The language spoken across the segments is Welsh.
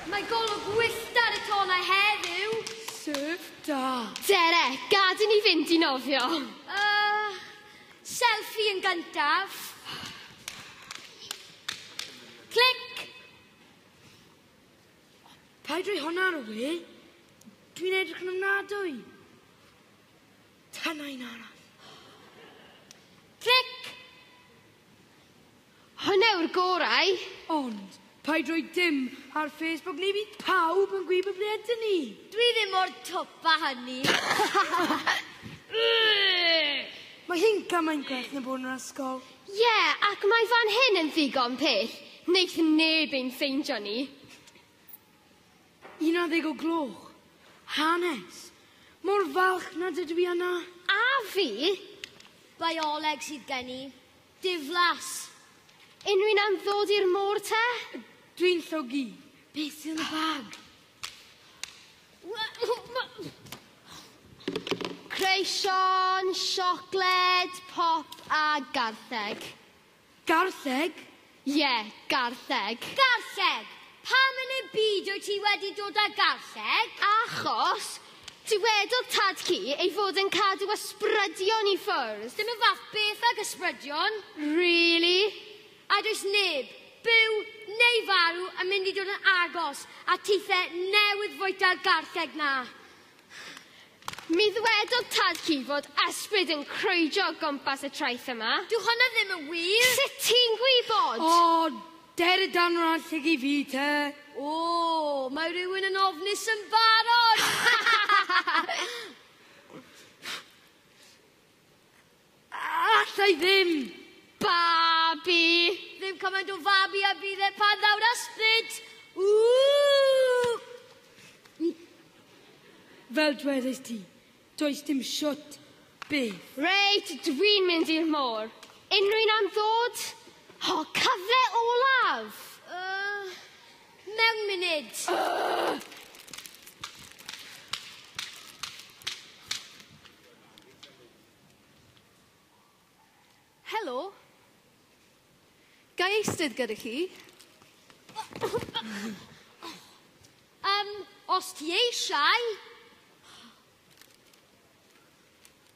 Mae golwg wyllt ar y tonau heddiw. Sef da. Dere, gad i ni fynd i nofio. Uh, selfie yn gyntaf. Clic! Paid rhoi hwnna ar y we. Dwi'n edrych yn ofnadwy. Dyna un arall. Tic! Hwnna yw'r gorau. Ond, paid rhoi dim ar Facebook neu bydd pawb yn gwybod ble ydyn ni. Dwi ddim mor twp a hynny. Mae hi'n gymaint gwerth na bod yn yr ysgol. Ie, yeah, ac mae fan hyn yn ddigon pell. Neith neb ein ffeindio ni. Unarddeg o gloch. Hanes. Mor falch nad ydw i yna. A fi? Bioleg sydd gen i. Diflas. Unrhywun am ddod i'r môr te? Dwi'n llogi. Beth sydd yn y bag? Creision, siocled, pop a gartheg. Garlleg? Ie, garlleg. Garlleg! Pam yn y byd wyt ti wedi dod â garlleg? Achos, dywedodd tad ci ei fod yn cadw ysbrydion i ffwrdd. Dim y fath beth ag ysbrydion. Really? A does neb, byw neu farw, yn mynd i dod yn agos at tithe newydd fwyta'r garlleg 'na. Mi ddwedodd tad ci fod ysbryd yn crwydro o gwmpas y traeth yma. Dyw hwnna ddim yn wir! Sut ti'n gwybod? O, der y danwrnod llygid fi te. O, mae rhywun yn ofnus yn barod! Alla i ddim! Babi! Ddim cymaint o fabi a bydd e pan ddaw'r ysbryd! Ww! Fel dwedais ti, does dim siwt byth. Reit, dwi'n mynd i'r môr. Unrhyw un am ddod? O, cyfle olaf! Uh, mewn munud. Uh! Helo. Ga i eistedd gyda chi? um, os ti eisiau.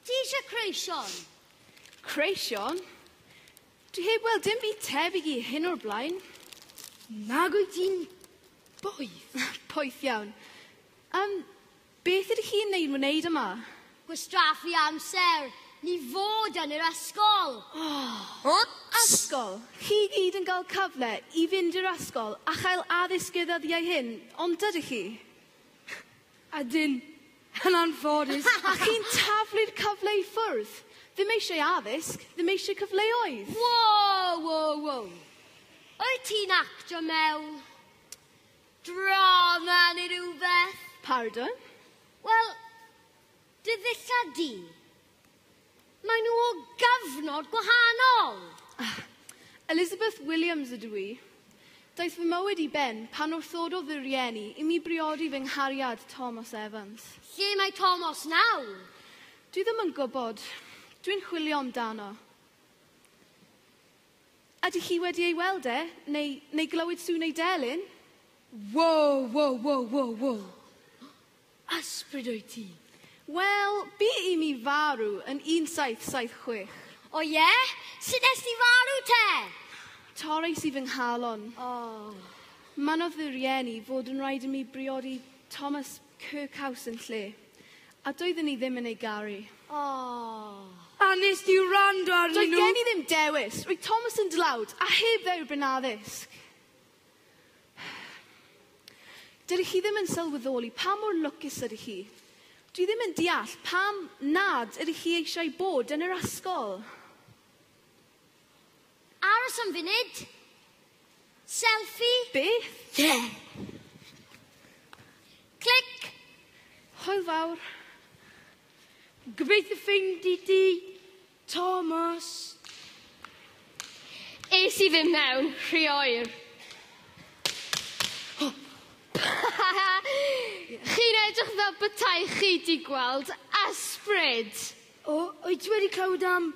Ti eisiau creision? Creision? Dwi heb weld dim byd tebyg i hyn o'r blaen. Nag wyt ti'n boeth? poeth iawn. Um, Beth ydych chi'n ei wneud yma? Gwastraffu amser, ni fod yn yr ysgol! Yr ysgol! Chi i gyd yn cael cyfle i fynd i'r ysgol a chael addysg y ddyddiau hyn, ond dydych chi? Ydyn, yn anffodus! A chi'n taflu'r cyfle i ffwrdd? Ddim eisiau addysg, ddim eisiau cyfleoedd! Wow, wow, wow! Wyt ti'n actio mewn? Drama neu rhywbeth? Pardon? Wel, dy ddillad di. Mae nhw o gyfnod gwahanol. Ah, Elizabeth Williams ydw i. Daeth fy mywyd i ben pan wrthododd fy rieni i mi briodi fy nghariad Thomas Evans. Lle mae Thomas nawr? Dwi ddim yn gwybod. Dwi'n chwilio amdano. Ydych chi wedi ei weld e, neu, neu glywed sŵn ei delyn? Wow, wow, wow, wow, wow. Ysbryd wyt ti. Wel, bu i mi farw yn 1776. O ie? Sut nes di farw te? Torrais i fy nghalon. Oh. Mynnodd fy rhieni fod yn rhaid i mi briodi Thomas Cy cawsyn lle. A doedden ni ddim yn ei garu. Aww. A wnest ti wrando arnyn nhw? Doedd gen i ddim dewis. Roedd Thomas yn dlawd, a heb dderbyn addysg. Dydych chi ddim yn sylweddoli pa mor lwcus ydych chi. Dwi ddim yn deall pam nad ydych chi eisiau bod yn yr ysgol. Aros am funud. Selfie. Beth? Ie. Clic. Hwyl fawr. Gobeithio ffeindi di, Thomas. Es i ddim mewn, rhy oer. Chi'n edrych fel betaech chi di gweld ysbryd. O, wyt ti wedi clywed am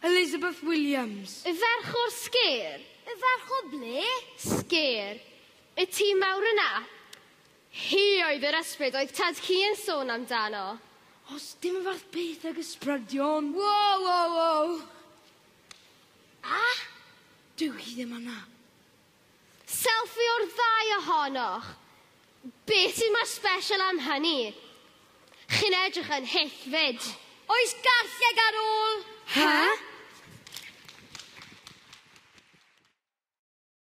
Elizabeth Williams. Y ferch o'r sgêr. Y ferch o ble? Sgêr. Y tŷ mawr yna. Hi oedd yr ysbryd oedd tad ci yn sôn amdano. Os dim y fath beth ag ysbrydion! Wow, wow, wow! A? Dyw hi ddim yna. Selfie o'r ddau ohonoch! Be sy'n mor special am hynny? Chi'n edrych yn hyfryd! Oes garlleg ar ôl? Huh?